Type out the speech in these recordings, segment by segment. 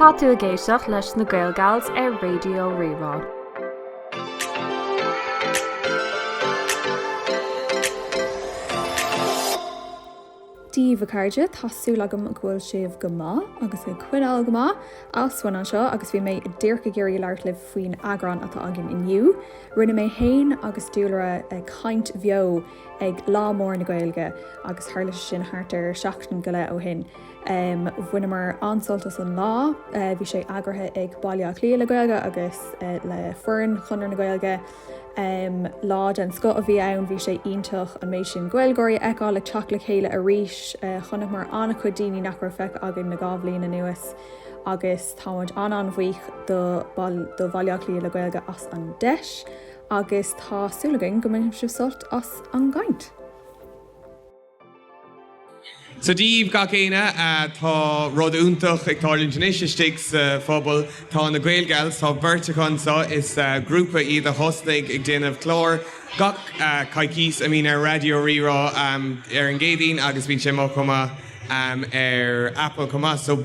Tá tú ag éisteacht leis na Gaelgals ar Raidió Rí-Rá. Dia daoibh a chairde, tá súil agam go bhfuil sibh go maith agus ag coinneáil go maith Alswyn anseo agus bhí mé díreach ag iarraidh labhairt libh faoin eagrán atá againn inniu. Rinne mé fhéin agus Dúlra caint bheo ag Lá Mór na Gaeilge agus tharla sé sin thart ar seachtain go leith ó shin. Bhaineamar an-sult as an lá, bhí sé eagraithe ag Baile Átha Cliath le Gaeilge agus le foireann Chonradh na Gaeilge. Lá den scoth a bhí ann, bhí sé iontach an méid sin Gaeilgeoirí a fheiceáil ag teacht le chéile arís. Chonaiceamar an-chuid daoine nach raibh feicthe againn le dhá bhliain anuas agus táimid an-an-bhuíoch do Bhaile Átha Cliath le Gaeilge as an deis. agus tá súil againn go mbainfidh sibh sult as an gcaint. So Dia daoibh gach éinne, tá rud iontach ag tarlúint anois istigh sa phobal. Tá na Gaelgals, tá beirt acu anseo, is grúpa iad a thosnaigh ag déanamh clár gach coicís a mbíonn ar Raidió Rí-Rá ar an gCéadaoin agus bíonn sé mar an gcéanna ar Apple chomh maith.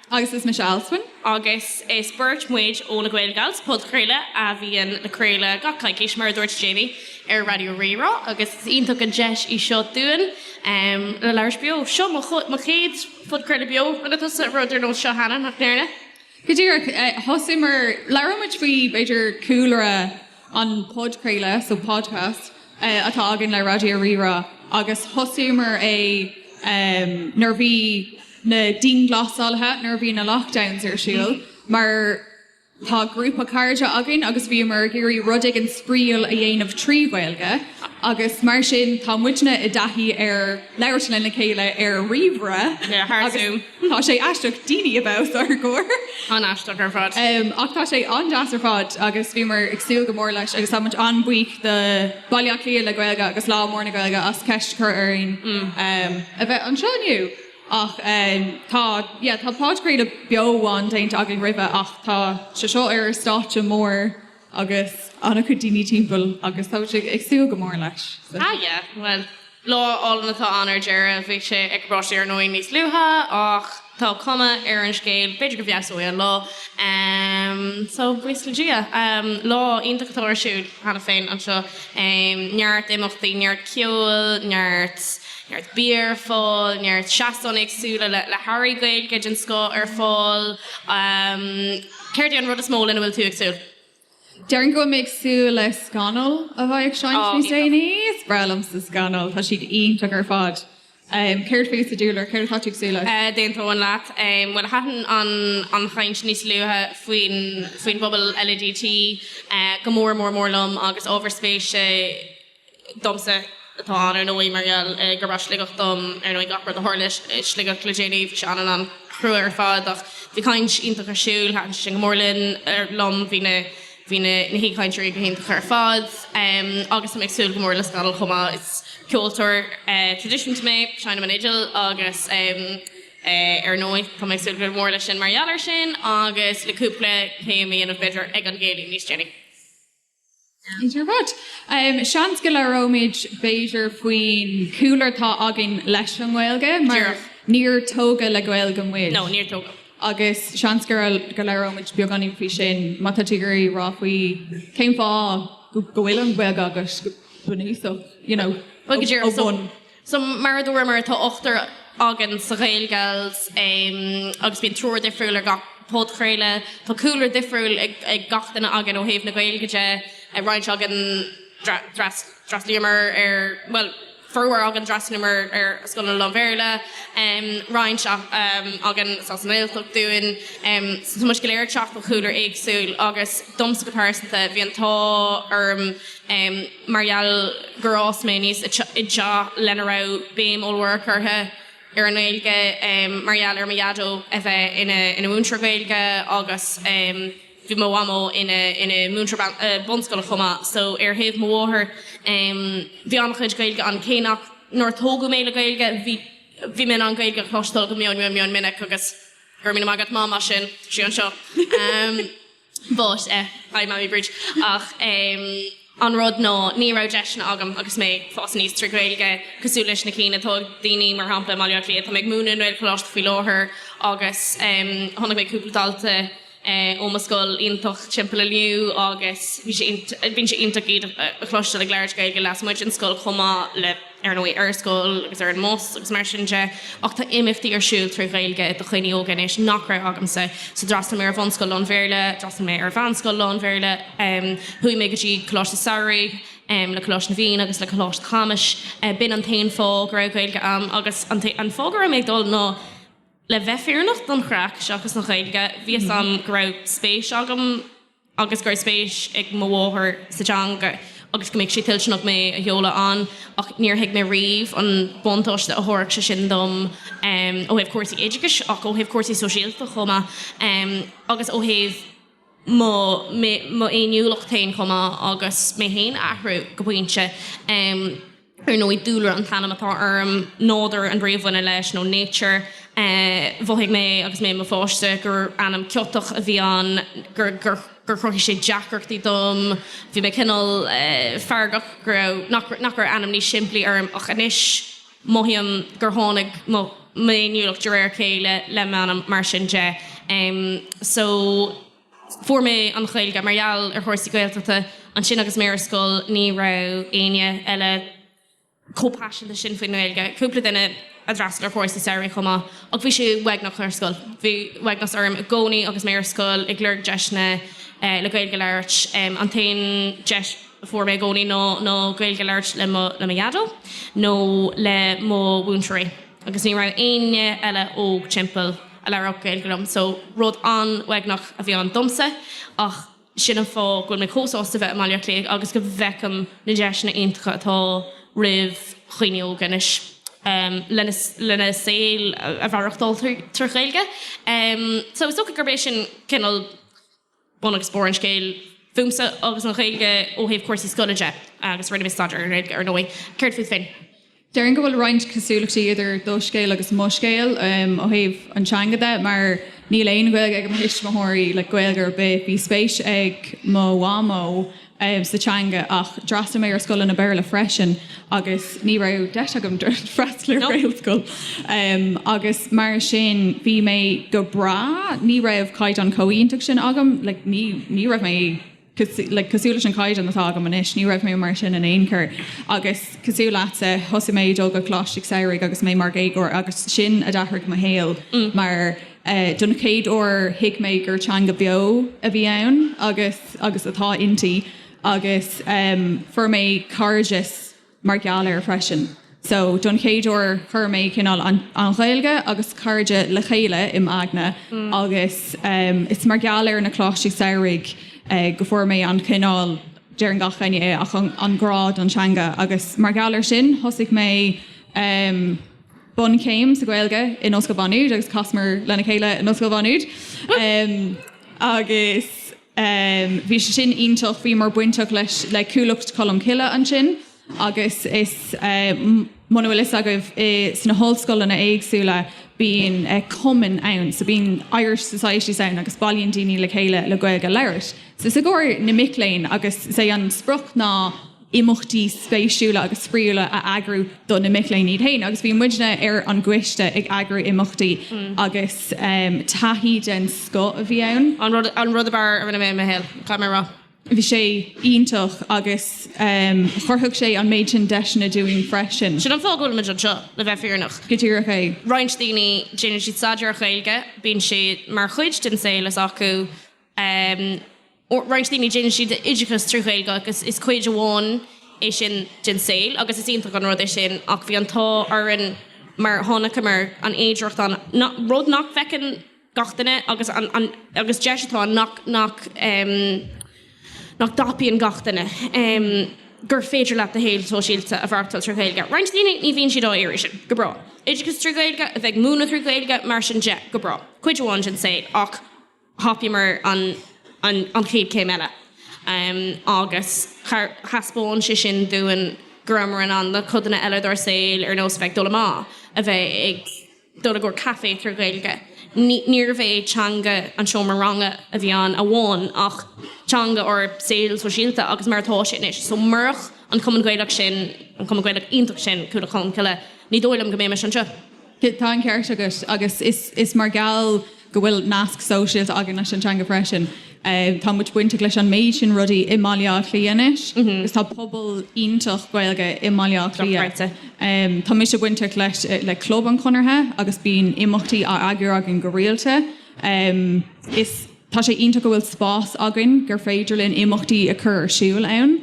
Agus is mise Alswyn. Agus is beirt muid ó Na Gaelgals, podchraoladh a bhíonn á chraoladh gach coicís, mar a dúirt Jamie, ar Raidió Rí-Rá agus is iontach an deis í seo dúinn le labhairt beo. Seo mo chéad phodchraoladh beo. Rinne tusa rud ar nós seo cheana, nach ndearna? Go díreach. Thosaíomar, labhróidh muid faoi b'fhéidir cúlra an podchraoladh, so podcast, atá againn le Raidió Rí-Rá agus thosaíomar é nuair a bhí, na dianghlasálaithe nuair a bhí na lockdowns ar siúl mar tá grúpa cairde againn agus bhíomar ag iarraidh rud éigin spraíúil a dhéanamh trí Gaeilge agus mar sin tá muidne i dtaithí ar labhairt lena chéile ar ríomhaire agus tá sé aisteach daoine a bheith os ár gcomhair. An-aisteach ar fad. Ach tá sé an-deas ar fad agus bhíomar ag súil go mór leis agus tá muid an-bhuíoch do Bhaile Átha Cliath le Gaeilge agus Lá Mór na Gaeilge as ceist a chur orainn a bheith anseo inniu. Ach tá, yeah, tá podchraoladh beo amháin déanta againn roimhe ach tá sé seo ar stáitse mór agus an-chuid daoine timpeall agus tá mé ag súil go mór leis. So. Ah yeah, bhuel, lá álainn atá ann ar deireadh. Bhí sé ag Capote ar ndóigh níos luaithe ach tá cuma ar an scéal, b'fhéidir go bhfeabhsóidh an lá. Em, so, buíochas le Dia. Em, lá iontach atá ar siúl cheana féin anseo. Em, neart imeachtaí, neart ceoil, neart. neart bia ar fáil, neart seastán éagsúla le hearraí Gaeilge den scoth ar fáil. Céard é an rud is mó lena bhfuil tú ag súil? Déarfainn go bhfuil mé ag súil le Scannal a bheidh ag seinnt níos déanaí. Is breá liomsa Scannal, tá siad iontach ar fad. Céard fútsa a Dhúlra, céard atá tú ag súil le? D'aontóinn leat. Bhuel, thaitin an chaint níos luaithe faoin bpobal LADT go mór mór mór liom agus ábhar spéise domsa atá ann, ar ndóigh, mar gheall gurb as Sligeach dom. Ar ndóigh, gach rud a tharla i Sligeach le déanaí, bhí sé an-an-chrua ar fad, ach bhí caint iontach ar siúl, thaitin sé sin go mór linn, liom, bhí na, bhí na, na haoichainteoirí go hiontach ar fad, em, agus tá mé ag súil go mór le Scannal chomh maith, is ceoltóir, eh, traidisiúnta mé, seinnim an fhidil agus, em, eh, ar ndóigh, tá mé ag súil go mór leis sin mar gheall air sin agus le cúpla céim a dhéanamh, b'fhéidir, ag an gcéilí níos déanaí. Seans go labhróimid, b'fhéidir, faoin gcúlra atá againn leis an nGaeilge, mar níor tógadh le Gaeilge muid, agus seans go labhróimid beagáinín faoi sin má tá tú ag iarraidh a rá faoi cén fáth go bhfuil an Ghaeilge agat go bunúsach, you know, ó bhonn. So, mar a dúramar, tá ochtar againn sa Gaelgals agus bíonn triúr difriúil ar gach podchraoladh. Tá cúlra difriúil ag gach duine againn ó thaobh na Gaeilge de. Roinnt againn, d'fhreastlaíomar ar, bhuel, formhór againn, d'fhreastlaíomar ar scoileanna lán-Bhéarla, roinnt againn, is as an nGaeltacht dúinn. So, tá muid go léir ag teacht ó chúlra éagsúil agus domsa go pearsanta, bhí an t-ádh orm, mar gheall gur fhás mé aníos i dteach lena raibh béim ollmhór curtha ar an nGaeilge mar gheall ar mo Dhaideo a bheith ina mhúinteoir Gaeilge agus bhí mo Mhamó ina múinteoir bunscoile chomh maith so ar thaobh mo mháthar bhí an-chuid Gaeilge ann cé nach nár tógadh mé le Gaeilge bhí bhí mé in ann Gaeilge a chloisteáil go mion mion mion minic agus go raibh míle maith agat Mam as sin, sí anseo. But eh, hi Mammy Bríd, ach em, an rud ná, ní raibh deiseanna agam agus mé ag fás aníos trí Ghaeilge, cosúil leis na cinn atá ag daoine, mar shampla i mBaile Átha Cliath. Tá mé ag múineadh i nGaelcholáiste faoi láthair agus em, chonaic mé cúpla dalta eh, ó mo scoil iontach timpeall inniu agus bhí sé int- eh, bíonn sé iontach iad a a chloisteáil ag labhairt Gaeilge lasmuigh den scoil chomh maith le ar ndóigh, ar scoil agus ar an mbus agus mar sin de, ach tá imeachtaí ar siúl trí Ghaeilge do dhaoine óga anois nach raibh agamsa. So d'fhreastail mé ar bhunscoil lán-Bhéarla, d'fhreastail mé ar mheánscoil lán-Bhéarla, chuaigh mé go dtí coláiste samhraidh le Coláiste na bhFiann agus le Coláiste Chamuis. B'in an t-aon fáth go raibh Gaeilge a'm agus an fáth go raibh mé ag dul ná le bheith fírinneach, don chraic seachas don Ghaeilge. Bhí 'fhios a'm go raibh spéis agam. agus go raibh spéis ag mo mháthair sa teanga agus go mbeadh sí toilteanach mé a sheoladh ann, ach níor thuig mé riamh an buntáiste a thabharfadh sé sin dom ó thaobh cúrsaí oideachais ach ó thaobh cúrsaí sóisialta chomh maith agus ó thaobh mo fhéiniúlacht féin chomh maith agus mé féin a athrú go pointe. ar ndóigh, dúlra an t-ainm atá orm, nádúr an bhrí a bhaineann leis, nó nature. Mhothaigh mé agus mé i mo pháiste gur ainm ciotach a bhí ann, gur chruthaigh sé deacrachtaí dom. Bhí mé cineál feargach go raibh, nach raibh ainm níos simplí orm ach anois mothaím gur tháinig mo m'fhéiniúlacht de réir a chéile le m'ainm, mar sin de. So. Fuair mé an Ghaeilge mar gheall ar chúrsaí Gaeltachta, ansin agus mé ar scoil ní raibh éinne eile chomh paiseanta sin faoin nGaeilge, cúpla duine a d'fhreastail ar chúrsaí samhraidh chomh maith, ach bhí sé uaigneach ar scoil. Bhí uaigneas orm i gcónaí agus mé ar scoil, ag lorg deiseanna le Gaeilge a labhairt. An t-aon deis a fuair mé i gcónaí ná Gaeilge a labhairt le mo Dhaideo nó le mo mhúinteoirí agus ní raibh éinne eile óg timpeall. a labhródh Gaeilge liom, so rud an-uaigneach a bhí ann domsa ach sin an fáth go bhfuil mé chomh sásta bheith i mBaile Átha Cliath agus go bhfeicim na deiseanna iontacha atá roimh dhaoine óga anois lena saol a mhaireachtáil trí Ghaeilge. So is dócha gurb é sin cineál. bun agus barr an scéil fúmsa agus an Ghaeilge ó thaobh cúrsaí scoile de, agus rinne mé staidéar, ar ndóigh. Céard fút féin? Déarfainn go bhfuil roinnt cosúlachtaí idir do scéal agus mo scéal ó thaobh an teanga de mar níl aon Ghaeilge ag mo thuismitheoirí, like Gaeilge ar bith. Bhí spéis ag mo mhamó. sa teanga ach d'fhreastail mé ar scoileanna Béarla freisin agus ní raibh deis agam freastal ar Ghaelscoil agus mar sin bhí mé go breá, ní raibh caighdeán chomh iontach sin agam, like ní raibh mé like cosúil leis an chaighdeán atá agam anois, ní raibh mé mar sin in aon chor agus cosúil leatsa, thosaigh mé ag dul go Coláistí Samhraidh agus mé mar dhéagóir agus sin a d'athraigh mo shaol mar Don chéad uair thuig mé gur teanga beo a bhí ann agus agus atá inti agus fuair mé cairdeas mar gheall air freisin. So don chéad uair chuir mé cineál an Ghaeilge agus cairde le chéile im' aigne agus is mar gheall ar na Coláistí Samhraidh go bhfuair mé an cineál, deireann gach éinne é, ach an grá don teanga agus mar gheall ar sin thosaigh mé bunchéim sa Ghaeilge in Ollscoil Mhá Nuad agus chasamar lena chéile in Ollscoil Mhá Nuad agus bhí sé sin iontach, bhíomar bainteach leis le Cuallacht Cholm Cille ansin agus, muna bhfuil fhios agaibh, i, sna hollscoileanna éagsúla bíonn cumainn ann, so bíonn Irish societies ann agus bailíonn daoine le chéile le Gaeilge a labhairt. So is i gcomhair na mic léinn agus is é an sprioc ná, imeachtaí spéisiúla agus spraíúla a eagrú do na mic léinn iad féin agus bhí muidne ar an gcoiste ag eagrú imeachtaí agus taithí den scoth a bhí ann. An rud ab fhearr a rinne mé i mo shaol, caithfidh mé a rá. Bhí sé iontach agus chruthaigh sé an méid sin deiseanna dúinn freisin. Sin an fáth go bhfuil muid anseo, le bheith fírinneach. Go díreach é. Roinnt daoine, déanann siad staidéar ar Ghaeilge, bíonn sé mar chuid den saol s'acu. roinnt daoine déanann siad oideachas trí Ghaeilge agus is cuid amháin é sin den saol agus is iontach an rud é sin ach bhí an t-ádh orainn mar chonaiceamar an fhéidireacht ann, rud nach bhfeiceann gach duine agus agus deis atá ann nach nach nach dtapaíonn gach duine, gur féidir leat do shaol sóisialta a mhaireachtáil trí Ghaeilge. Roinnt daoine ní bhíonn siad á iarraidh sin, go breá. Oideachas trí Ghaeilge, a bheith ag múineadh trí Ghaeilge, mar sin de, go breá. Cuid amháin den saol ach. thapaíomar an chéad chéim eile agus thaispeáin sé sin dúinn go rabhamar in ann na codanna eile dár saol, ar nós a bheith ag dul amach, a bheith ag dul i gcomhair caife trí Ghaeilge. Níorbh é teanga an seomra ranga a bhí ann amháin ach teanga ár saoil shóisialta agus mar atá sé anois. So murach an Cumann Gaelach sin, an Cumann Gaelach iontach sin, Cuallacht Cholm Cille, ní dóigh liom go mbeimis anseo. Tá an ceart agat, agus is mar gheall go bhfuil nasc sóisialta againn leis an teanga freisin. Tá muid bainteach leis an méid sin rudaí i mBaile Átha Cliath anois, agus tá pobal iontach Gaeilge i mBaile Átha Cliath. Tá mise bainteach leis le Club an Chonartha, agus bíonn imeachtaí á n-eagar againn go rialta. Tá sé iontach go bhfuil spás againn gur féidir linn imeachtaí a chur ar siúl ann.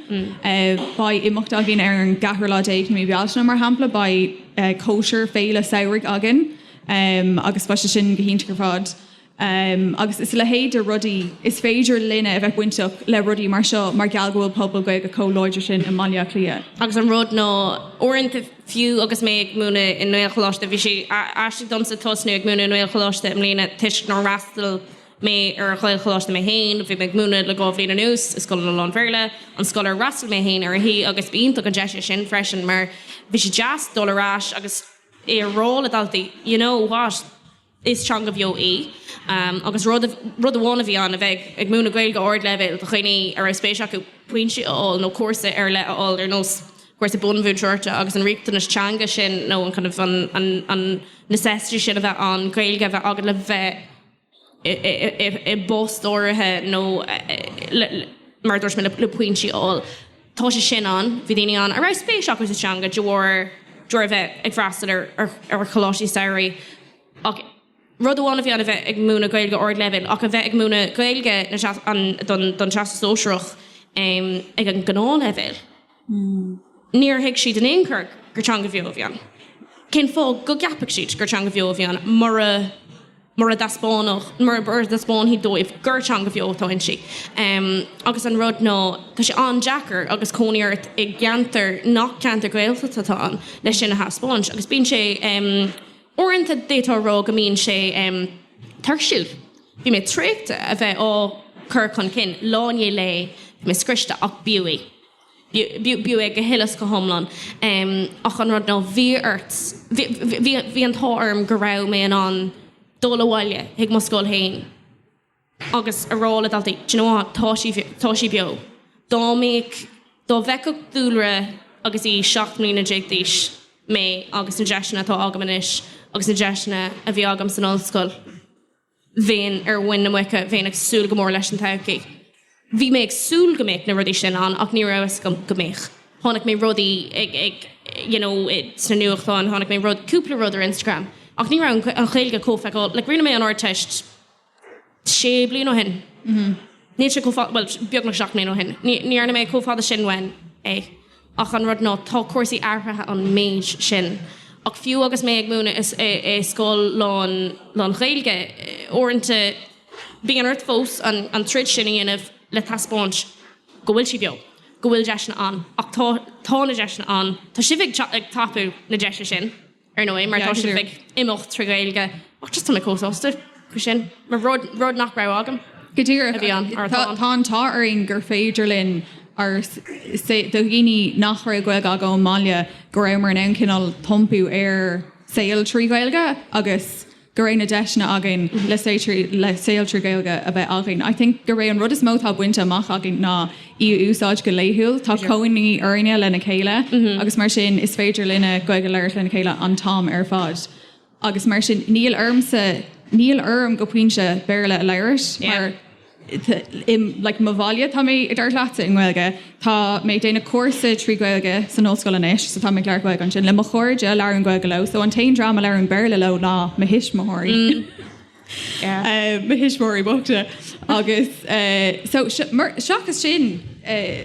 Beidh imeacht againn ar an gceathrú lá déag de mhí Bealtaine, mar shampla, beidh cóisir, féile samhraidh againn agus beidh sé sin go hiontach ar fad. Agus is a leithéid de rudaí, is féidir linne a bheith bainteach le rudaí mar seo mar gheall go bhfuil pobal Gaeilge chomh láidir sin i mBaile Átha Cliath. Agus an rud ná, uaireanta. Fiú agus mé ag múineadh i nGaelcholáiste, bhí sé aisteach domsa tosnú ag múineadh i nGaelcholáiste i mbliana toisc nár fhreastail mé ar Ghaelcholáiste mé féin. Bhí mé ag múineadh le dhá bhliain anuas i scoileanna lán-Bhéarla, an scoil ar fhreastail mé féin uirthi, agus ba iontach an deis é sin freisin mar bhí sé deas dul ar ais agus é a rá le daltaí, you know what? Is teanga bheo í, agus rud amháin a bhí ann a bheith ag múineadh Gaeilge ardleibhéil do dhaoine a raibh spéis acu pointe a fháil nó cúrsa ar leith a fháil, ar nós cúrsa bunmhúinteoireachta, agus an riachtanas teanga sin nó kind of an necessity sin a bheith ann Gaeilge a bheith agat le bheith i bpost áirithe nó, mar a dúirt mé, le pointí a fháil. tá sé sin ann, bhí daoine ann a raibh spéis acu sa teanga de bharr de bharr a bheith ag freastal ar choláistí samhraidh ach rud amháin a bhí ann a bheith ag múineadh Gaeilge ardleibhéil ach a bheith ag múineadh Gaeilge don Teastas Sóisearach ag an ngnáthleibhéal, níor thuig siad in aon chor gur teanga bheo a bhí ann. Cén fáth go gceapfadh siad gur teanga bheo a bhí ann. mura dtaispeánfadh, mura, mura dtaispeánfaí dóibh gur teanga bheo atá inti. Agus an rud ná, tá sé an-deacair agus cónaí ort i gceantar nach ceantar Gaeltachta atá ann le sin a thaispeáint. Agus bíonn sé, uaireanta d'fhéadfá a rá go mbíonn sé tuirsiúil. Bhí mé traochta a bheith á chur chun cinn, lá i ndiaidh lae, bhí mé scriosta ach b'fhiú. b'fhiú é go huile is go hiomlán, ach an rud ná, bhí ort, bhí, bhí an t-ádh orm go raibh mé in ann dul abhaile chuig mo scoil féin agus a rá le daltaí, do you know what, tá, tá sí beo. Dá mbeadh, dá bhfeicfeadh Dúlra agus í seacht mbliana déag d'aois mé agus na deiseanna atá agam anois agus na deiseanna a bhí agam san ollscoil, bheinn ar mhuin na muice, bheinn ag súil go mór leis an todhchaí. Bhí mé ag súil go mbeadh na rudaí sin ann ach ní raibh a fhios agam go mbeadh. Chonaic mé rudaí ag, ag, you know, sna nuachtáin, chonaic mé rud, cúpla rud ar Instagram ach ní raibh an Ghaeilge chomh feiceálach, like rinne mé an Ardteist sé bliain ó shin, níl sé chomh fada, bhuel beagnach seacht mbliana ó shin, ní, ní dhearna mé chomh fada sin uaim. Ach an rud ná, tá cúrsaí athraithe an méid sin. Ach fiú agus mé ag múineadh i scoil lán, lán-Ghaeilge, uaireanta bíonn ort fós an troid sin a dhéanamh le taispeáint go bhfuil sí beo, go bhfuil deiseanna ann. Ach tá, tá na deiseanna ann. Tá sibh ag tapú na deise sin. ar ndóigh, mar tá sibh ag imeacht trí Ghaeilge, ach just tá mé chomh sásta faoi sin, mar rud nach raibh agam. Go díreach. Tá an t-ádh orainn gur féidir linn ár, say, do dhaoine nach raibh Gaeilge acu ón mbaile, go rabhamar in ann cineál tiompú ár saol trí Ghaeilge agus, go raibh na deiseanna againn le, le saol trí Ghaeilge a bheith againn. I think gurb é an rud is mó atá bainte amach againn ná í a úsáid go laethúil. Tá cónaí orainne lena chéile agus mar sin is féidir linne Gaeilge a labhairt lena chéile an t-am ar fad agus mar sin níl ormsa, níl orm go pointe Béarla a labhairt mar. like mo bhaile tá mé ag labhairt leatsa i nGaeilge, tá mé ag déanamh cúrsa trí Ghaeilge san ollscoil anois so tá mé ag labhairt Gaeilge ansin le mo chairde a labhraím Gaeilge leo so an t-aon dream a labhraím Béarla leo ná mo thuismitheoirí, eh mo thuismitheoirí bochta agus eh so mar seachas sin eh.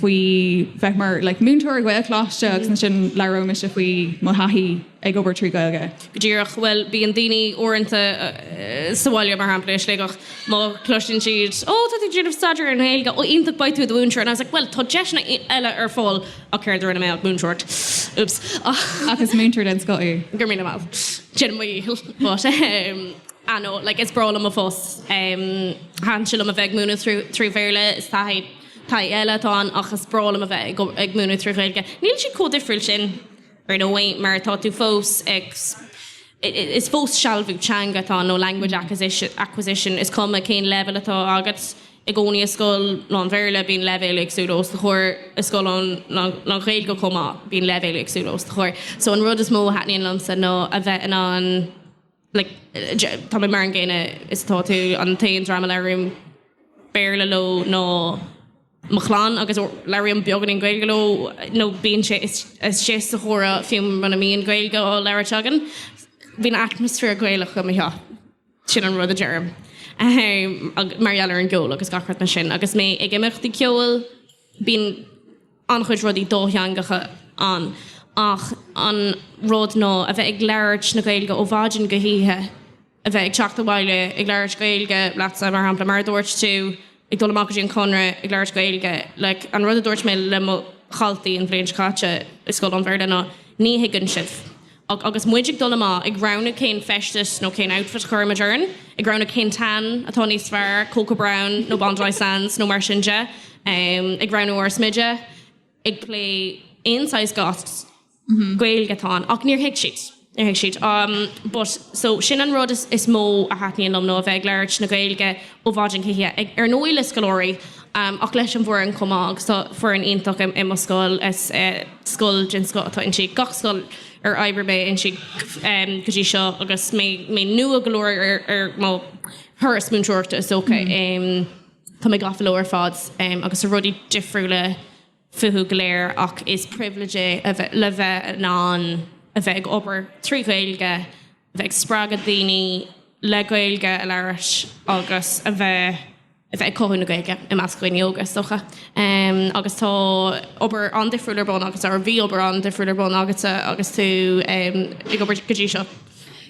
faoi bheith mar, like, múinteoir i Gaelcholáiste agus ansin labhróidh mise faoi mo thaithí ag obair trí Ghaeilge. Go díreach, bhuel, bíonn daoine uaireanta sa bhaile, mar shampla, i Sligeach, má chloiseann siad, oh, tá tú ag déanamh staidéir ar an nGaeilge, oh, iontach, beidh tú i do mhúinteoir, and I was like, bhuel, tá deiseanna eile ar fáil ach céard a rinne mé ach múinteoireacht, oops, ach. Ach is múinteoir den scoth thú. Go raibh míle maith. Déanaim mo dhícheall, but ehm, ah no, like, is breá liom mo phost, ehm, thaitin sé liom a bheith ag múineadh trí Bhéarla, is taithí. Taithí eile atá ann ach is breá liom a bheith ag múineadh trí Ghaeilge. Níl sé chomh difriúil sin ar ndóigh mar tá tú fós ag, is fós sealbhú teanga atá ann nó language acquisition, is cuma cén leibhéal atá agat i gcónaí i scoil lán-Bhéarla bíonn leibhéil éagsúla os do chomhair i scoil lán-Ghaeilge chomh maith bíonn leibhéil éagsúla os do chomhair. So an rud is mó a thaitníonn liomsa ná a bheith in ann like, tá mé mar an gcéanna is atá tú, an t-aon dream a labhraím Béarla leo ná mo chlann agus labhraím beagáinín Gaeilge leo nó bíonn sé istigh sa chomhrá fiú muna mbíonn Gaeilge á labhairt againn, bíonn atmaisféar Gaelach i mo theach, sin an rud a deirim. Mar gheall ar an gceol agus gach rud mar sin, agus mé ag imeachtaí ceoil, Bíonn an-chuid rudaí dátheangacha ann, ach an rud ná a bheith ag labhairt na Gaeilge ó mhaidin go hoíche, a bheith ag teacht abhaile ag labhairt Gaeilge leatsa, mar shampla, mar a dúirt tú, ag dul amach go dtí an Conradh ag labhairt Gaeilge. Like, an rud a dúirt mé le mo dhaltaí an bhliain seo caite i scoil lán-Bhéarla ná ní thuigeann sibh. Agus muid ag dul amach ag roghnú cén feisteas nó cén outfit a chuirfimid orainn, ag roghnú cén tan atá níos fearr, Coco Brown nó Bondi Sands nó mar sin de, ag roghnú ár smideadh, ag plé aon saghas goss, Gaeilge atá ann. Ach níor thuig siad. Níor thuig siad. But so sin an rud is mó a thaitníonn liom ná a bheith ag labhairt na Gaeilge ó mhaidin go hoíche, ag, ar ndóigh le scoláirí, ach leis an bhfoireann chomh maith agus tá foireann iontach i mo scoil, is scoil den scoth atá inti, gach scoil ar oibrigh mé inti go dtí seo agus mé nua go leor ar mo thuras múinteoireachta is dócha, tá mé gafa leo ar fad agus tá rudaí difriúla, fúthu go léir ach is pribhléid é le bheith in ann a bheith ag obair trí Ghaeilge, a bheith ag spreagadh daoine le Gaeilge a labhairt agus a bheith a bheith ag cothú na Gaeilge i measc dhaoine óga, is dócha. Agus tá obair an-difriúil ar bun agatsa, or bhí obair an-difriúil ar bun agatsa agus tú ag obair go dtí seo.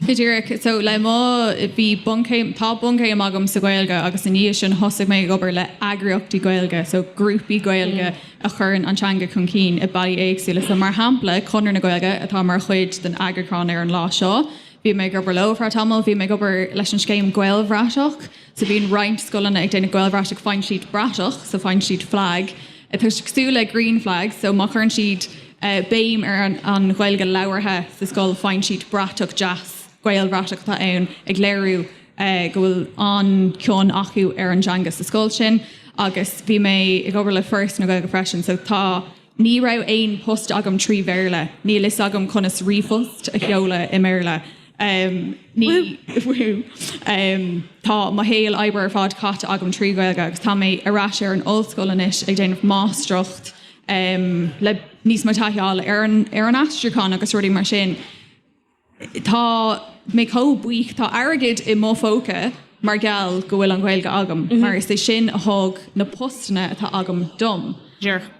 Go díreach. So le mo, bhí bunchéim, tá bunchéim agam sa Ghaeilge agus i ndiaidh sin thosaigh mé ag obair le heagraíochtaí Gaeilge, so grúpaí Gaeilge a chuireann an teanga chun cinn i bealaí éagsúla. So mar shampla, Conradh na Gaeilge atá mar chuid den eagrúchán ar an lá seo, bhí mé ag obair leo ar feadh tamaill, bhí mé ag obair leis an scéim Gaelbhratach, So bíonn roinnt scoileanna ag déanamh Gaelbhratach, faigheann siad bratach, so faigheann siad flag, atá cosúil le green flag, so má chuireann siad béim ar an Ghaeilge labhartha sa scoil faigheann siad bratach deas, Gaelbhratach atá ann ag léiriú go bhfuil an-chion acu ar an dteanga sa scoil sin. Agus bhí mé ag obair le Foras na Gaeilge freisin, so tá. Ní raibh aon post agam trí Bhéarla. Níl fhios agam conas ríomhphost a sheoladh i mBéarla. Woo! Tá mo shaol oibre ar fad caite agam trí Ghaeilge agus tá mé ar ais ar an ollscoil anois ag déanamh máistreacht le níos mó taithí a fháil ar an aistriúchán agus rudaí mar sin. Tá mé chomh buíoch. Tá airgead i mo phóca mar gheall go bhfuil an Ghaeilge agam mar is é sin a thug na postanna atá agam dom.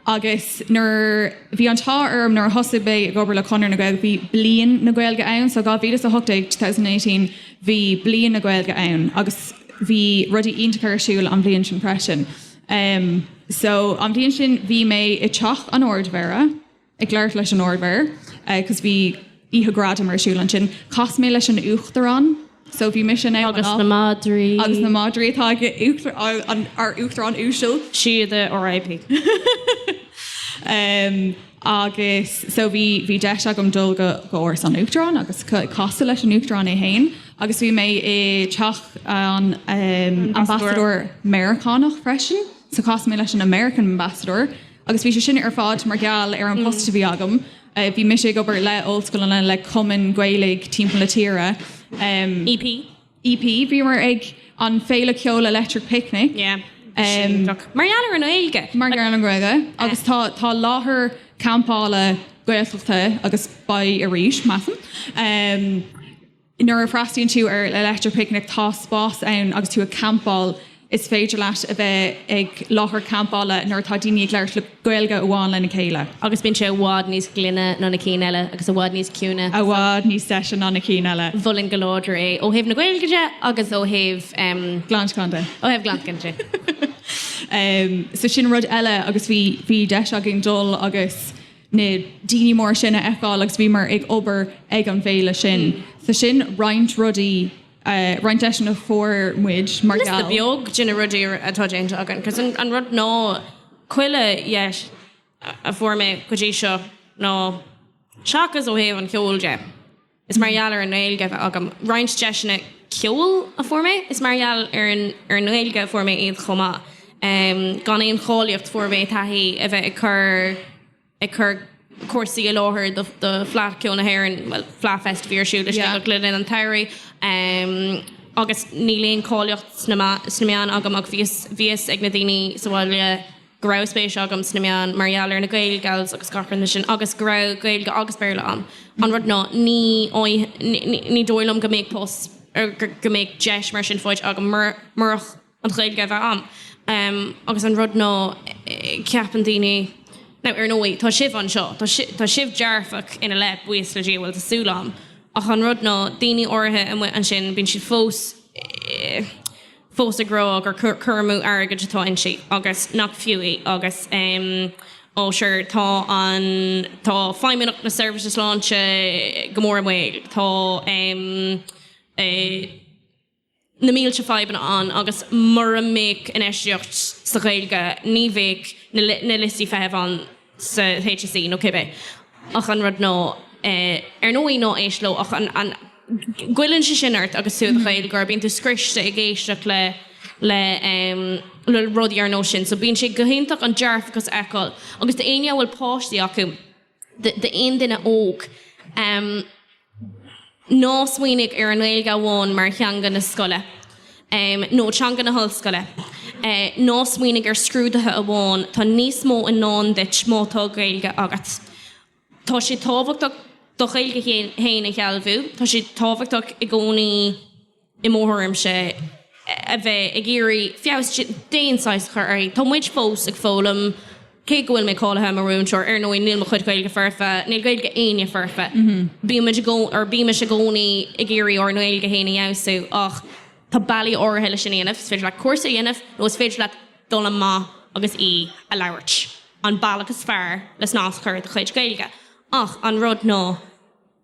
Agus nuair, bhí an t-ádh orm nuair a thosaigh mé ag obair le Conradh na Gaeilge, bhí Bliain na Gaeilge ann. So dhá mhíle is a hocht déag, two thousand and eighteen, bhí Bliain na Gaeilge ann agus bhí rudaí iontacha ar siúl an bhliain sin freisin. Em, so an bhliain sin bhí mé i dTeach an Ard-Mhéara. ag labhairt leis an Ard-Mhéara agus bhí oíche ghradaim ar siúl ansin. Chas mé leis an Uachtarán, so bhí mise in, agus na madraí atá ag ár Uachtarán uasal. Síoda RIP. Em agus so bhí bhí deis agam dul go go Áras an Uachtaráin agus ca- casadh leis an Uachtarán é fhéin agus bhí mé i teach an em Ambassadóir Meiriceánach freisin so chas mé leis an American Ambassador Agus bhí sé sin ar fad mar gheall ar an bpost a bhí agam. Bhí mise ag obair le ollscoileanna, le cumainn Ghaelaigh timpeall na tíre. EP? EP. Bhíomar ag an féile ceoil Electric Picnic. Yeah. Mar gheall ar an nGaeilge? Mar gheall ar an nGaeilge. Agus tá, tá láthair campála Gaeltachta agus beidh arís, measaim. Nuair a fhreastalaíonn tú ar Electric Picnic tá spás ann agus tú ag campáil. Is féidir leat a bheith ag láthair campála nuair atá daoine ag labhairt Gaeilge amháin lena chéile. Agus bíonn sé i bhfad níos glaine ná na cinn eile agus i bhfad níos ciúine. I bhfad níos deise ná na cinn eile. Mholfainn go láidir é ó thaobh na Gaeilge de agus ó thaobh. Glanschlann de. Ó thaobh glantacháin de. So sin rud eile agus bhí deis againn dul agus. na daoine móra sin a fheiceáil agus bhíomar ag obair ag an bhféile sin. So sin roinnt rudaí, roinnt deiseanna a fuair muid mar gheall. Liosta beag de na rudaí atá déanta againn cos an rud ná chuile dheis a fuair mé go dtí seo ná seachas ó thaobh an cheoil de, Is mar gheall ar an nGaeilge a bheith agam roinnt deiseanna ceoil a fuair mé. Is mar gheall ar an ar an nGaeilge a fuair mé iad chomh maith. Gan aon cháilíocht fuair mé taithí a bheith ag cur ag cur cúrsaí i láthair do do Fleadh Cheoil na hÉireann, bhuel Fleadh Fest a bhí ar siúl i Sligeach le linn an tsamhraidh agus níl aon cáilíocht sna sna meáin agam ach bhí a fhios bhí a fhios ag na daoine sa bhaile go raibh spéis agam sna meáin mar gheall ar na Gaelgals agus gach rud mar sin agus go raibh Gaeilge agus Béarla a'm. An rud ná, ní ní dóigh liom go mbeadh post ar go mbeadh deis mar sin faighte agam murach an Ghaeilge a bheith a'm. Agus an rud ná, ceapann daoine, now ar ndóigh, tá sibh anseo, tá sibh dearfach ina leith, buíochas le Dia, bhuel, tá súil a'm, ach an rud ná, daoine áirithe amuigh ansin, bíonn siad fós, fós ag rá gur cur amú airgid atá inti agus nach fiú í agus á sure tá an, tá Feidhmeannacht na Seirbhíse Sláinte go mór i mbaol, tá na mílte fadhbanna ann agus mura mbeadh infheistíocht sa Ghaeilge ní bheadh na liostaí feithimh ann. sa HSE nó cibé ach an rud ná ar ndóigh ná éist leo ach an an goilleann sé sin ort agus tú i do Ghaeilgeoir bíonn tú scriosta ag éisteacht le le le rudaí ar nós sin so bíonn sé go hiontach an dearfachas a fheiceáil agus do éinne a bhfuil páistí acu d'aon duine óg Ná smaoinigh ar an nGaeilge amháin mar theanga na scoile nó teanga na hollscoile. Ná smaoinigh ar scrúduithe amháin. Tá níos mó i ndán duit má tá Gaeilge agat. Tá sé tábhachtach do Ghaeilge féin a shealbhú. Tá sé tábhachtach i gcónaí. i mo thuairimse, a bheith ag iarraidh feabhas d'aon saghas a chur uirthi. Tá muid fós ag foghlaim, cé go bhfuil mé cáilithe mar mhúinteoir. Ar ndóigh, níl mo chuid Gaeilge foirfe, níl Gaeilge éinne foirfe. Bímis i gcónaí ag iarraidh ár nGaeilge féin a fheabhsú ach tá bealaí áirithe leis sin a dhéanamh. Is féidir leat cúrsa a dhéanamh nó is féidir leat dul amach agus í a labhairt, an bealach is fearr le snas a chur ar do chuid Gaeilge. Ach an rud ná.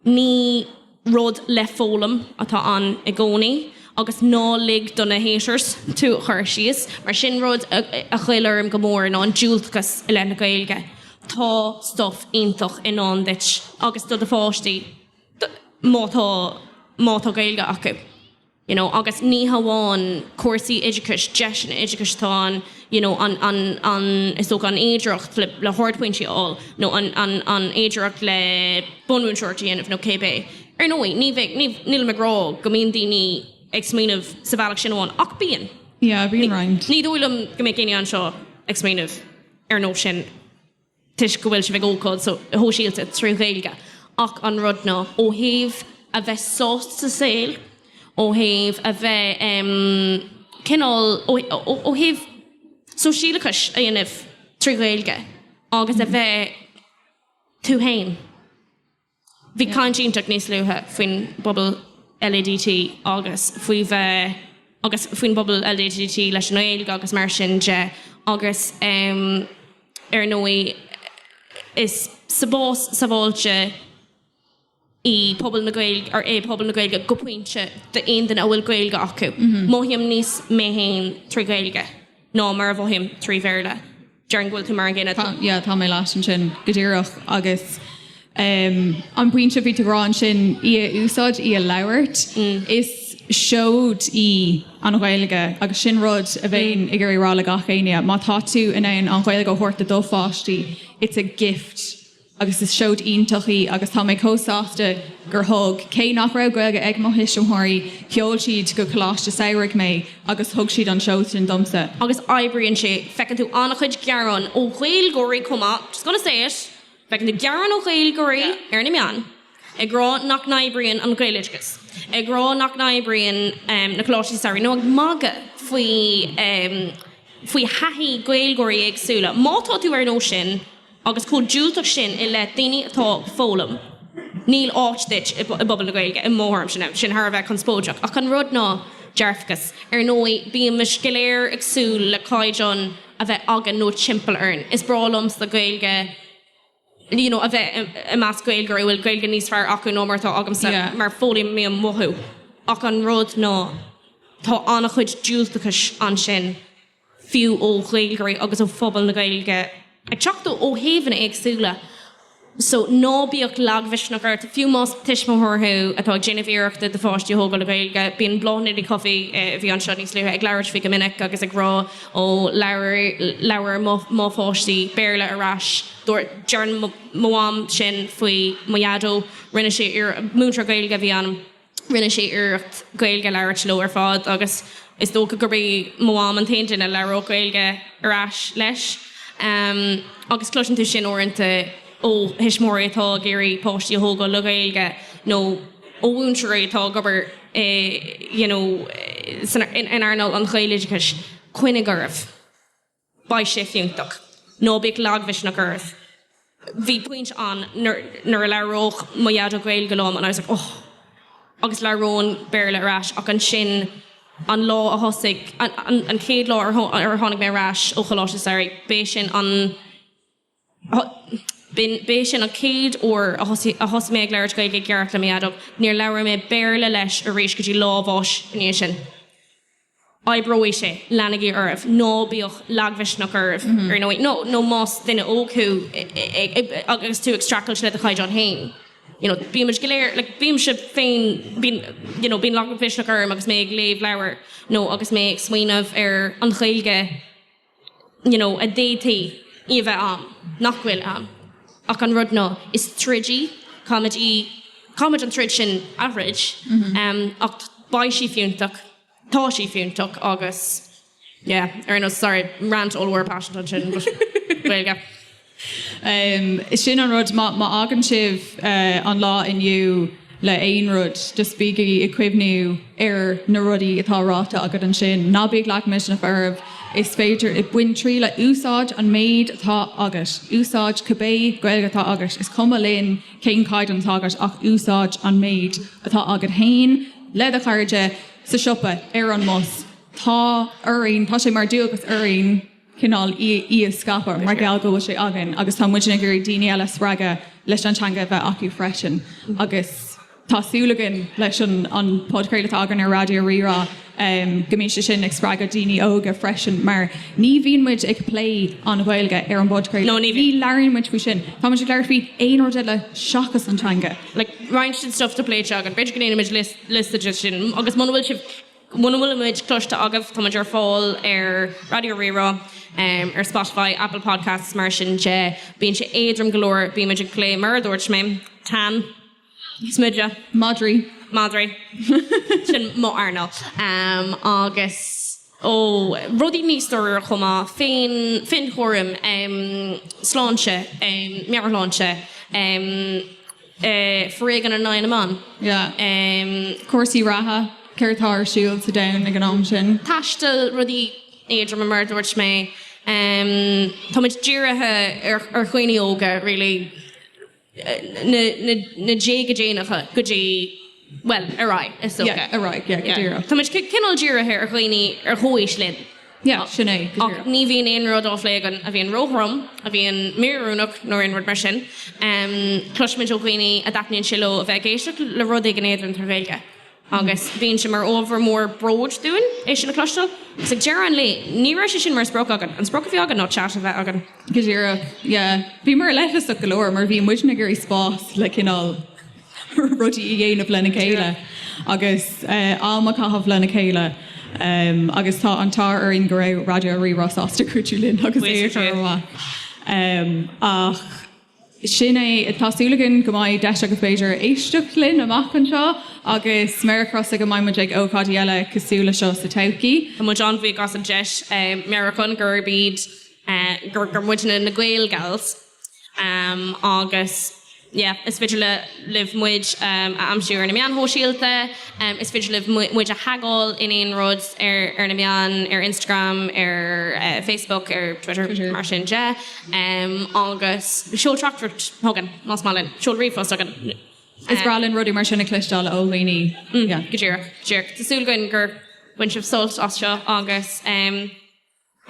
Ní rud le foghlaim atá ann i gcónaí agus ná lig do na 'haters' tú a chur síos mar sin. Rud a ghoill orm go mór ná an diúltachas i leith na Gaeilge. Tá stuif iontach i ndán duit agus do do pháistí má tá Gaeilge acu. you know agus ní hamháin cúrsaí oideachais, deiseanna oideachais atá ann you know an, an, an, is dócha an fhéidireacht le, le hardphointí a fháil nó an, an, an fhéidireacht le bunmhúinteoireacht a dhéanamh nó cibé. Ar ndóigh, ní bheidh, ní, nílim ag rá go mbíonn daoine ag smaoineamh sa bhealach sin amháin ach bíonn. Yeah, bíonn roinnt. Ní dóigh liom go mbeadh éinne anseo ag smaoineamh ar an nós sin. toisc go bhfuil sibh ag ócáid shóisialta trí Ghaeilge ach an rud ná ó thaobh a bheith sásta sa saol, ó thaobh a bheith cineál, ó thaobh sóisialachas a dhéanamh trí Ghaeilge agus a bheith tú féin. Bhí caint iontach níos luaithe faoin bpobal LADT agus faoi bheith agus faoin bpobal LADT leis an nGaeilge agus mar sin de agus ar ndóigh is spás sábháilte i bpobal na Gaeilge, é pobal na Gaeilge go pointe d'aon duine a bhfuil Gaeilge acu. Mothaím níos mé féin trí Ghaeilge ná mar a mhothaím trí Bhéarla. Déarfainn go bhfuil tú mar an gcéanna. Tá, yeah, tá mé leat ansin, go díreach. Agus an pointe bhí tú ag rá ansin, í a úsáid, í a labhairt, is seoid í an Ghaeilge agus sin rud a bheinn ag iarraidh a rá le gach éinne, má tá tú in ann an Ghaeilge a thabhairt do do pháistí, it's a gift. agus is seoid iontach í agus tá mé chomh sásta gur thug, cé nach raibh Gaeilge ag mo thuismitheoirí, sheol siad go coláiste samhraidh mé agus thug siad an tseoid sin domsa. Agus oibríonn sé. Feiceann tú an-chuid gearáin ó Ghaeilgeoirí chomh maith, just gonna say it, feiceann tú gearáin ó Ghaeilgeoirí ar na meáin ag rá nach n-oibríonn an Gaeloideachas, ag rá nach n-oibríonn na coláistí samhraidh, nó ag magadh faoi thaithí Gaeilgeoirí éagsúla. Má tá tú ar nós sin, agus chomh diúltach sin i leith daoine atá ag foghlaim, níl áit duit i bpobal na Gaeilge, i mo thuairimse. Now, sin thar a bheith conspóideach, ach an rud ná dearfachas. Ar ndóigh, bímis go léir ag súil le caighdeán a bheith againn nó timpeall orainn. Is breá liomsa Gaeilge, you know, a bheith i measc Gaeilgeoirí a bhfuil Gaeilge níos fearr acu ná mar atá agamsa, mar foghlaimím uathu, ach an rud ná tá an-chuid diúltachais ansin. fiú ó Ghaeilgeoirí agus ó phobal na Gaeilge ag teacht ó thaobhanna éagsúla so ná bíodh lagmhisneach ort, fiú más tuismitheoir thú atá ag déanamh iarrachta do pháistí a thógáil le Gaeilge. Bíonn Bláthnaid Ní Chofaigh, a bhí anseo níos luaithe, ag labhairt faoi go minic agus ag rá ó labhair mo pháistí Béarla ar ais, dúirt, deireann mo mham sin faoi mo dhaideo, rinne sé iarr, múinteoir Gaeilge a bhí ann, rinne sé iarracht Gaeilge a labhairt leo ar fad agus is dócha gurb í mo mham an t-aon duine a labhródh Gaeilge ar ais leis. Agus cloiseann tú sin uaireanta ó thuismitheoirí atá ag iarraidh páistí a thógáil le Gaeilge nó ó mhúinteoirí atá ag obair i you know in earnáil an Ghaeloideachais, coinnigh oraibh. beidh sé fiúntach. Ná bíodh lagmhisneach oraibh. Bhí pointe ann nuair a labhródh mo dhaideo Gaeilge liom and I was like oh agus labhróinn Béarla ar ais ach ansin an lá a thosaigh, an chéad lá ar tháinig mé ar ais ó Choláiste Samhraidh, b'é sin an. B'in, b'é sin an chéad uair a thosaigh mé ag labhairt Gaeilge i gceart le m'athair. Níor labhair mé Béarla leis arís go dtí lá a bháis ina dhiaidh sin. Oibreoidh sé. Leanaigí oraibh. Ná bíodh lagmhisneach oraibh, ar ndóigh. Nó, nó más duine óg thú agus tú ag streachailt le do chaighdeán féin, you know, bímid go léir, like, bímse féin, bíonn, you know, bíonn lagmhisneach orm agus mé ag léamh leabhair nó agus mé ag smaoineamh ar an Ghaeilge. you know, a d'fhéadfaí í a bheith ann, nach bhfuil ann ach an rud ná is troid í, caithfimid an troid sin a throid ach beidh sí fiúntach, tá sí fiúntach agus yeah, ar nós, sorry, rant over, paisean ansin but Gaeilge. Sin an rud, má fhágann sibh an lá inniu le haon rud, just bígí ag cuimhniú ar na rudaí atá ráite agat ansin. Ná bíodh lagmhisneach oraibh. Is féidir, bain triail, úsáid an méid atá agat. Úsáid cibé Gaeilge atá agat, is cuma linn cén caighdeán atá agat ach úsáid an méid atá agat féin, le do chairde, sa siopa, ar an mbus. Tá orainn, tá sé mar dualgas orainn. cineál í a scaipeadh mar gheall go bhfuil sé againn agus tá muidne ag iarraidh daoine eile a spreagadh leis an teanga a bheith acu freisin agus tá súil againn leis an podchraoladh atá againn ar Raidió Rí-Rá go mbíonn sé sin ag spreagadh daoine óga freisin mar ní bhíonn muid ag plé an Ghaeilge ar an bpodchraoladh, ní labhraíonn muid faoi sin, tá muid ag labhairt faoi aon rud eile seachas an teanga. like roinnt den stuff atá pléite againn, b'fhéidir go ndéanfaimid liosta de sin agus muna bhfuil sibh. Muna bhfuil muid cloiste agaibh, táimid ar fáil ar Raidió Rí-Rá, ar Spotify, Apple Podcasts, mar sin de. Bíonn sé éadrom go leor, bíonn muid ag plé, mar a dúirt mé, tan, smideadh, madraí, madraí, sin mo earnáil, agus ó rudaí níos dáiríre chomh maith, féin, féin-chúram, sláinte, meabhairshláinte. foréigean in aghaidh na mban, cúrsaí reatha, céard atá ar siúl sa domhan ag an am sin. taisteal, rudaí éadroma mar a dúirt mé. Táimid dírithe ar dhaoine óga really, na déaga déanacha go dtí, bhuel, ar aghaidh is dócha. Táimid cineál dírithe ar dhaoine ar chomhaois linn. Yeah, sin é. Ach ní bhíonn aon rud á phlé againn a bhíonn róthrom, a bhíonn míoiriúnach nó aon rud mar sin. Cloisimid ó dhaoine a dtaitníonn sé leo a bheith ag éisteacht le rud éigin éadrom trí Ghaeilge agus bíonn sé mar ábhar mór bróid dúinn é sin a chloisteáil. Is ag deireadh an lae, ní raibh sé sin mar sprioc againn. An sprioc a bhí againn ná chat a bheith againn. Go díreach, yeah. Bhíomar leithleasach go leor mar bhí muidne ag iarraidh spás le cineál. rudaí a dhéanamh lena chéile agus am a chaitheamh lena chéile agus tá an t-ádh orainn go raibh Raidió Rí-Rá sásta cuidiú linn agus é a chur amach. Ach sin é, tá súil againn go mbeidh deis agaibh b'fhéidir éisteacht linn amach anseo agus méara crosta go mbeidh muid ag ócáidí eile cosúil le seo sa todhchaí. Tá muid an-bhuíoch as an deis. Meabhrúchán gurb iad, gur muidne na Gael Gals. Agus, yeah, is féidir libh muid a aimsiú ar na meáin shóisialta, is féidir libh muid a thagáil in aon rud ar na meáin, ar Instagram, ar Facebook, ar Twitter, mar sin de. Agus seol teachtaireacht chugainn, más maith linn, seol ríomhphost chugainn. Is breá linn rudaí mar sin a chloisteáil ó dhaoine. Go díreach, go díreach. Tá súil againn gur bhain sibh sult as seo agus.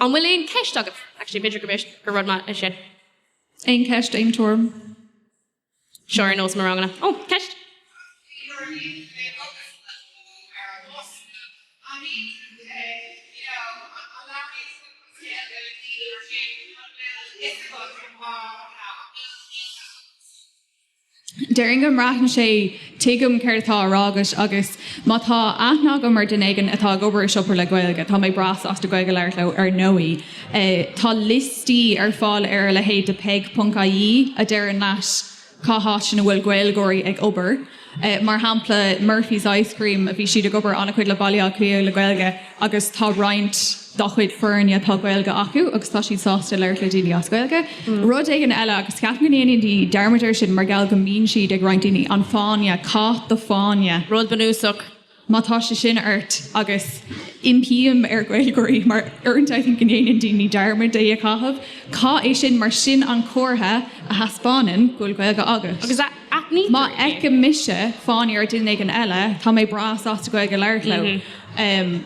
An bhfuil aon cheist agat? Actually, b'fhéidir go bhfios gur rud maith é sin. Aon cheist, aon tuairim? Seo ar nós mo ranganna. Ó, ceist? Déarfainn go mbraitheann sé, tuigim céard atá á rá agat agus má tá aithne agam ar duine éigin atá ag obair i siopa le Gaeilge, tá mé breá sásta Gaeilge a labhairt leo ar ndóigh. Tá liostaí ar fáil ar a leithéid de peig ponc IE a deireann leat cá háit ina bhfuil Gaeilgeoirí ag obair. Mar shampla, Murphy's Ice Cream, bhí siad ag obair an-chuid le Baile Átha Cliath le Gaeilge, agus tá roinnt dá chuid foirne atá Gaeilge acu agus tá siad sásta labhairt le daoine as Gaeilge. Rud éigin eile, agus ceapaim go ndéanann daoine dearmad air sin mar gheall go mbíonn siad ag roinnt daoine, an fáinne, caith do fáinne. Rud bunúsach, má tá sé sin ort, agus impím ar Ghaeilgeoirí mar uaireanta I think go ndéanann daoine dearmad é a chaitheamh, caith é sin mar sin an comhartha a thaispeánann go bhfuil Gaeilge agat. Aithnítear é. Má fheicim mise fáinne ar dhuine éigin eile, tá mé breá sásta Gaeilge a labhairt leo.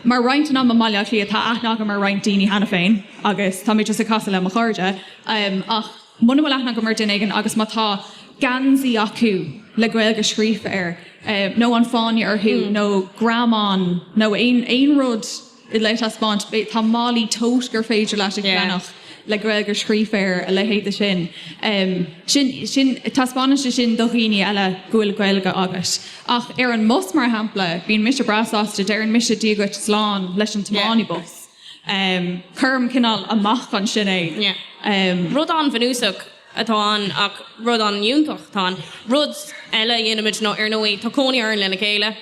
Mar roinnt den am i mBaile Átha Cliath, tá aithne agam ar roinnt daoine cheana féin agus tá mé just ag casadh le mo chairde. Ach muna bhfuil aithne agam ar dhuine éigin agus má tá geansaí acu le Gaeilge scríofa air nó an fáinne orthu nó greamán nó aon rud, le taispeáint. Tá málaí tote gur féidir leat a cheannach le Gaeilge scríofa air, a leithéid de sin. Sin, sin, taispeánann sé sin do dhaoine eile go bhfuil Gaeilge agat. Ach ar an mbus, mar shampla, bíonn mise breá sásta, deireann mise Dia dhuit, slán, leis an tiománaí bus. Cuirim cineál amach ansin é. Rud an-bhunúsach. atá ann ach rud an-fhiúntach. Tá an. rud eile a dhéanaimid nó ar ndóigh tá cónaí orainn lena chéile.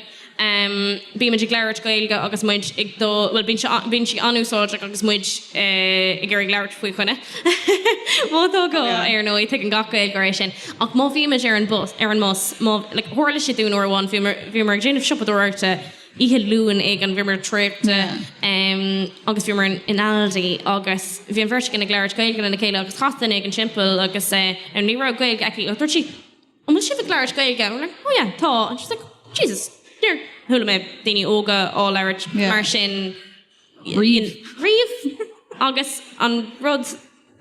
Bímid ag labhairt Gaeilge agus muid ag dul, bhuel bíonn sé, bíonn sí an-úsáideach agus muid ag iarraidh labhairt faoi dhaoine. Má tá gá, ar ndóigh, tuigeann gach Gaeilgeoir é sin. Ach má bhímid ar an bus, ar an mbus, má, like, tharla sé dúinn uair amháin, bhíomar, bhíomar ag déanamh siopadóireachta, Oíche Luain éigin bhíomar traochta agus bhíomar in Aldi agus bhí an bheirt againn ag labhairt Gaeilge lena chéile agus chas duine éigin timpeall agus ní raibh Gaeilge aici agus dúirt sí An bhfuil sibh ag labhairt Gaeilge? And we were like, Oh yeah, tá. And she was like, Jesus, níor chuala mé daoine óga á labhairt mar sin. riamh agus an rud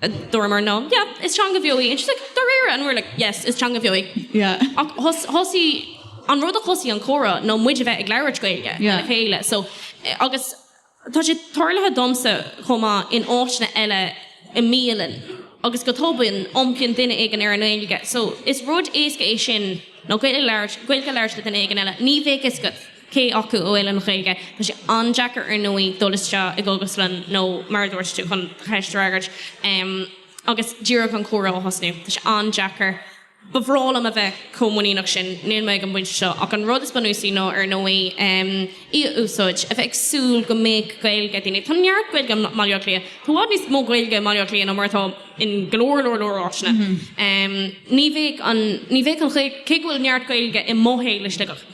a dúramar ná yeah, is teanga bheo í and she's like dáiríre and we were like yes, is teanga bheo í yeah ach thosaigh, an rud a thosaigh an comhrá ná muid a bheith ag labhairt Gaeilge yeah le chéile so agus tá sé tarlaithe domsa chomh maith in áiteanna eile i mbialann agus go tobann iompaíonn duine éigin ar an nGaeilge so is rud éasca é sin ná Gaeilge a labhairt le duine éigin eile, ní bheadh a fhios agat. cé acu a bhfuil an Ghaeilge Tá sé an-deacair, ar ndóigh, dul isteach i gcógaslann nó, mar a dúirt tú, chun an Daingean agus díreach an comhrá a thosnú. Tá sé an-deacair. Ba bhreá liom a bheith chomh muiníneach sin. Níl mé ag an bpointe seo. Ach an rud is bunúsaí ná, ar ndóigh, í a úsáid, a bheith ag súil go mbeadh Gaeilge ag daoine Tá neart Gaeilge i mBaile Átha Cliath. Tá i bhfad níos mó Gaeilge i mBaile Átha Cliath ná mar atá in go leor, leor, leor áiteanna. Ní bheadh an, ní bheadh an Ghaeilge cé go bhfuil neart Gaeilge i mo shaol i Sligeach.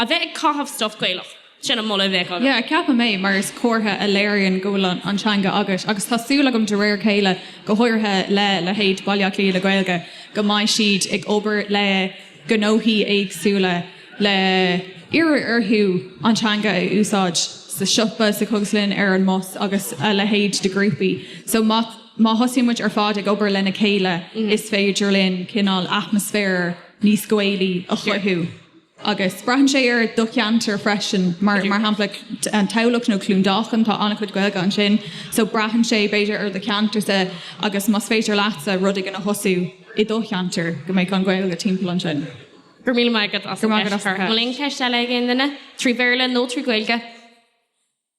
A bheith ag caitheamh stuif Gaelach, sin an moladh a bheadh agam. Yeah, ceapaim é, mar is comhartha a léiríonn go bhfuil an teanga agat agus tá súil agam de réir a chéile, go háirithe le leithéid Baile Átha Cliath le Gaeilge, go mbeidh siad ag obair le gnóthaí éagsúla le iarraidh orthu an teanga a úsáid sa siopa, sa chógaslann, ar an mbus agus a leithéid de ghrúpaí. So má má thosaíonn muid ar fad ag obair lena chéile is féidir linn cineál atmaisféar níos Gaelaí a chothú. agus braitheann sé ar do cheantar freisin, mar shampla i dTamhlacht nó Cluain Dolcáin, tá an-chuid Gaeilge ansin, so braitheann sé b'fhéidir ar do cheantarsa agus más féidir leatsa rud éigin a thosú i do cheantar, go mbeadh an Ghaeilge timpeall ansin. Go raibh míle maith agat as an gceist, a Mháirín. An bhfuil aon cheist eile ag aon duine, trí Bhéarla nó trí Ghaeilge?